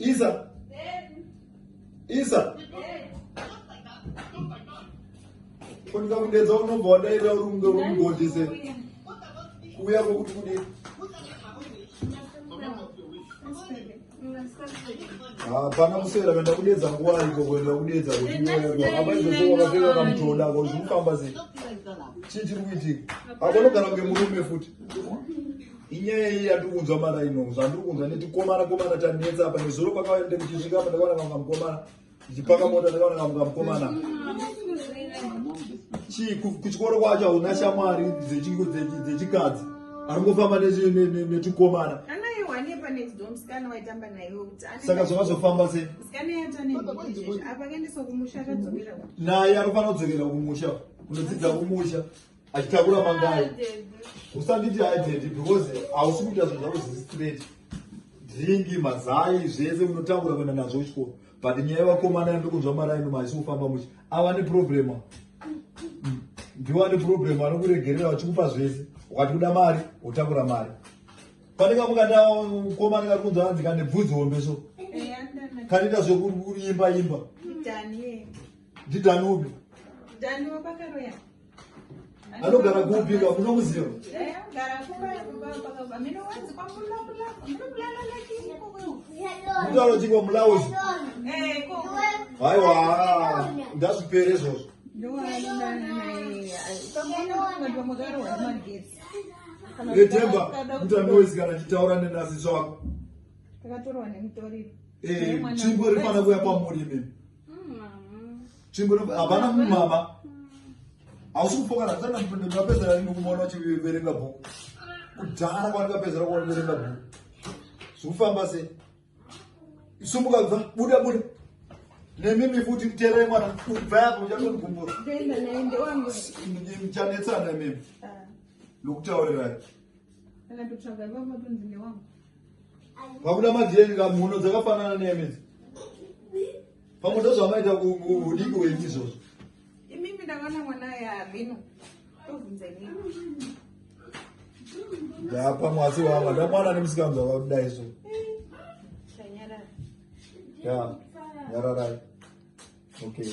Isa. Isa. Kunika kudedza unobva wadaira uri kunge uri mugodi se. Kuuya kwokuti kudii? hapana kuswera kuenda kudedza nguva iko kuenda kudedza kuti iwewe apa izvozvo wakapfeka kamutoda ko zviri kufamba sei chii chiri kuitika akonogara kunge murume futi inyaya iyi yandiri kunzwa mara ino zvandiri kunzwa netikomana komana tanetsa apa nezuro pakauya nde kuchisvika apa ndakaona kamka mukomana ndichipaka mota ndakaona kamka mukomana chii kuchikoro kwacho hauna shamwari dzechikadzi aringofamba netikomana saka zvakazofamba se naye anofanira kudzokera kumusha kunodzidza kumusha achitakura mangai usanditi aidedi because hausi kuita zvinhu zvako zviri straight dringi mazai zvese unotakura kuenda nazvo chikoro but nyaya yevakomana yandokunzwa maraino maisi kufamba muchi ava neproblema mm. ndiwo ane problem anokuregerera vachikupa zvese ukati kuda mari wotakura mari panenge mukatakomana kari kunzwa hanzi kane bvudzi hombe so kanoita zvekuimba imba ndidaniubi anogara kupi ka kuna muziva mutauro chingwa mulaos haiwa ndazvipere izvozvo retemba mutambi wesikana nditaura nenasi zvako eh, chingwa rifana kuya pamuri imimi chingoro hapana mumama hausi kufokana ndapedzera ringi kumaona uchiverenga bhuku kudhara kwandikapedzera kuona verenga bhuku zvikufamba sei sumuka bva buda buda nemimi futi terai mwana kubva yapo uchatondigumbura michanetsana imimi ah. nokutaurirai Pakuda majeni ka mhuno dzakafanana neyamedzi. Pamwe ndozvamaita kudiki wenyu izvozvo. Imimi ndakaona mwana yavino. Tobvunza imimi. Ndapa mwasi wava ndamwana nemusikamza vakuda izvo. Shanyara. Ya. Nyararai. Okay.